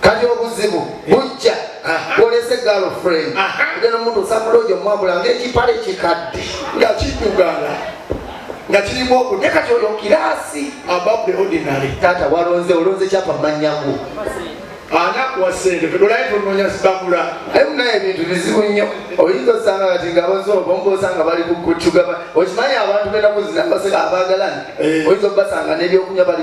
kati obuzibu bujja olese girlfriend oja nomuntu osamuloja omwabula ngaekipale kikadde nga kidugala nga kirimu okudde kati oyo kirasi above the ordinary taata walonze olonze kyapa manyagu anakuwa sente todolaye tononya zibabula aye munaye ebintu bizibu nnyo oyinza osanga kati nga abazi obomba osanga bali kukucugaba okimanyi abantu benaku zinabaseka abagalani eh. oyinza obasanga nebyokunywa bali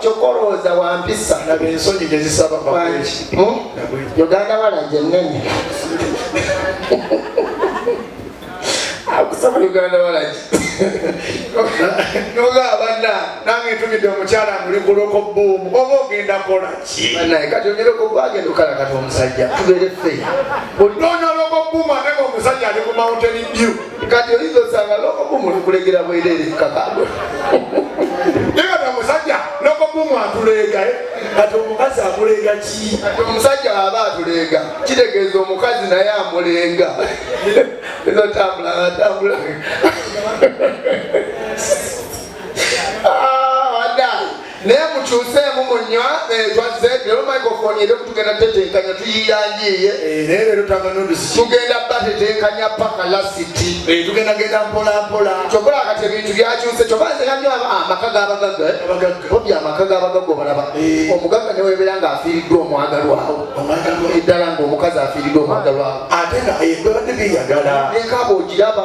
kyokka olowooza wampisa uganda walaje nene akusaba uganda walaje noga abana nange ntumidde omukyala nguli kuloko buumu oba ogenda kola ki naye kati onyere kugwagenda okala kati omusajja tubeere fe ononya loko buumu ate nga omusajja ali ku mountain dew kati oyinza osanga loko buumu likulegera bwerere kakago naye kati omusajja loko buumu atuleega eh? kati omukazi amuleega ki kati omusajja aba atuleega kitegeeza omukazi naye amuleega ezotambula atambula naye mukyuseemu munywa twazze lero microfone eri okutugenda tetenkanya tuyiyanjiiye tugenda batetenkanya paka lasiti tugendagenda mpolampola kyokola kati ebintu byakyuse kyobazeamyo amaka gabagaga obya amaka gabagaga obalaba omugagga newebeera nga afiiriddwa omwagalwawo eddala ngaomukazi afiiriddwa omwagalwawo ate nga ebibadde byeyagala nekaba ogiraba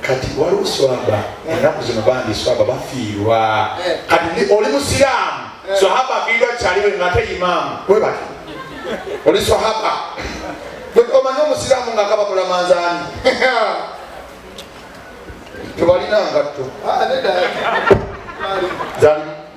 kati waliwo swaba ennaku zino bambi swaba bafiirwa eh. kati oli musiraamu eh. swahaba afiirwa kyaliwe ngate imaamu webati oli swahaba omanyi omusiraamu nga kaba mulamanzaani tebalina ngatto ah,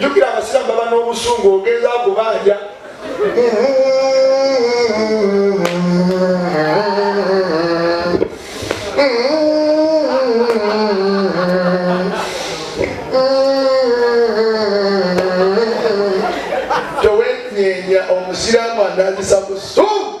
jukira abasiramu baba n'obusungu ogeza kubanja towenyenya omusiramu anazisa busungu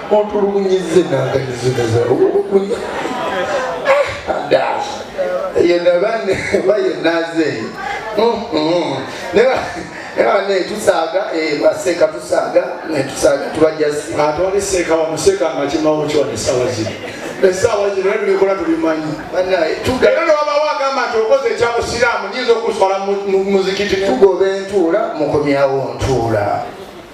otulugunyizze nanganizinaza obulugunya yenabane bayenazeeyo nebane tusaaga baseka tusaaga netusaaga tubajasi ate wali seeka wamuseka nga kimawo kiwano esawa zino esawa zino naye tulikola tubimanyi banaye tugenda newabawo agamba nti okoze ekyabusiraamu nyinza okuswala muzikiti tugoba entuula mukomyawo ntuula